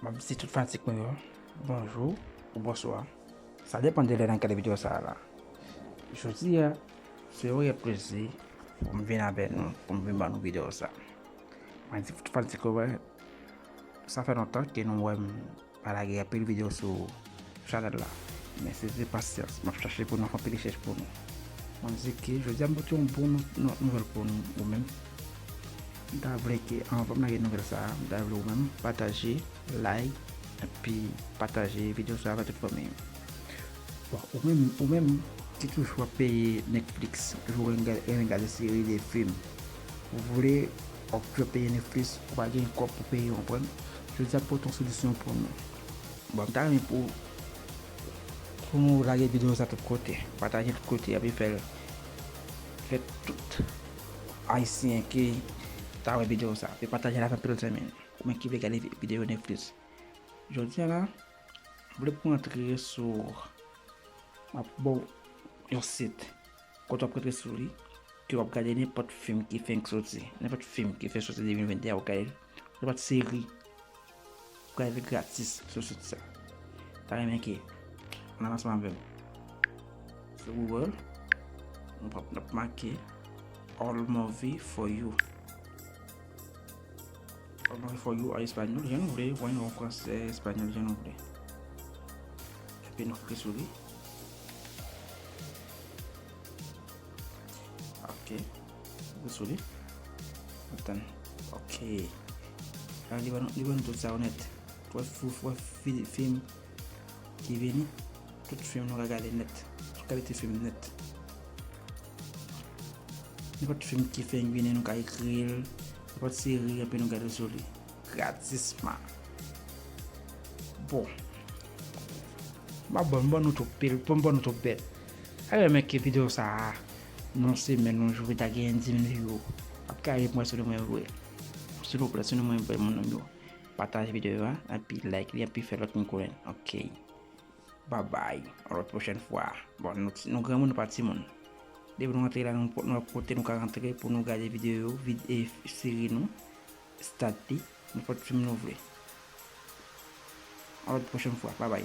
Map di tout fanatik mwen yo bonjou ou bonswa sa depan de lè nan gade video sa la jodi a se yon rèy plezi pou m vin avè nou pou m vin ban nou video sa mwen di tout fanatik yo wè sa fè lontan ke nou wè m Pa lage anpil video sou Chanel la. Mesi se pasyans map chache pou nou fè anpil rechèch pou nou. Mwen di ke jodia m pote yon bon nouvel pou ou menm. M ta vle ke anvan m lage nouvel sa a, m ta vle ou menm pataje, like, epi pataje video sa a avè tout fanmiy ou. Bon ou menm ou menm ki toujou ap peye Netflix, toujou renmen gade seri, de film, ou vle Fòk yo peye Netflix ou pa gen kòb pou peye konprann jodi a pote yon solisyon pou nou bon m ta renmen pou pou nou lage video sa tout kote patajel tout kote epi fèl fè tout ayisyen ki ta wè video sa epi patajel ak anpil zanmi nou ou menm ki vle gade video Netflix jodi a la m vle pou antre sou map baw yon sit. Kote wap rete sou li ke wap gade nenpòt fim ki fenk soti, nenpòt fim ki fenk soti 2021 wap gade li, nenpòt seri wap gade li gratis sou sit sa. Ta renmen ke nan ansanm avèm sou Google nou pap nap make all movie for you. Comment for you a espagnol jan nou vle, wany an fransè, espagnol jan nou vle. Epi nou kle sou li. Ok. Kle sou li. Atan. Ok. An li ban nou tout sa ou net. Wè fou, wè film. ki vini tout film nou ka gade nèt tout kalite film nèt nenpòt film ki fenk vini nou ka ekril nenpòt seri epi nou gade sou li gratisman bon map bon bon nou tout pil bon bon nou tout bèt alè men ke video sa a non se men nou jwe ta gen 10 mil view ap ka ye mwen sou li mwen vwe silvouplè sou li mwen vwe moun anmyou Pataj video a epi like li epi fè lòt moun konnen ok babay yon lòt pwochèn fwa bon nou granmoun nou pa timoun depi nou rantre la nan nenpòt kote nou ka rantre pou nou gade video yo e seri nou stat li nenpòt fim nou vle yon lòt pwochèn fwa babay.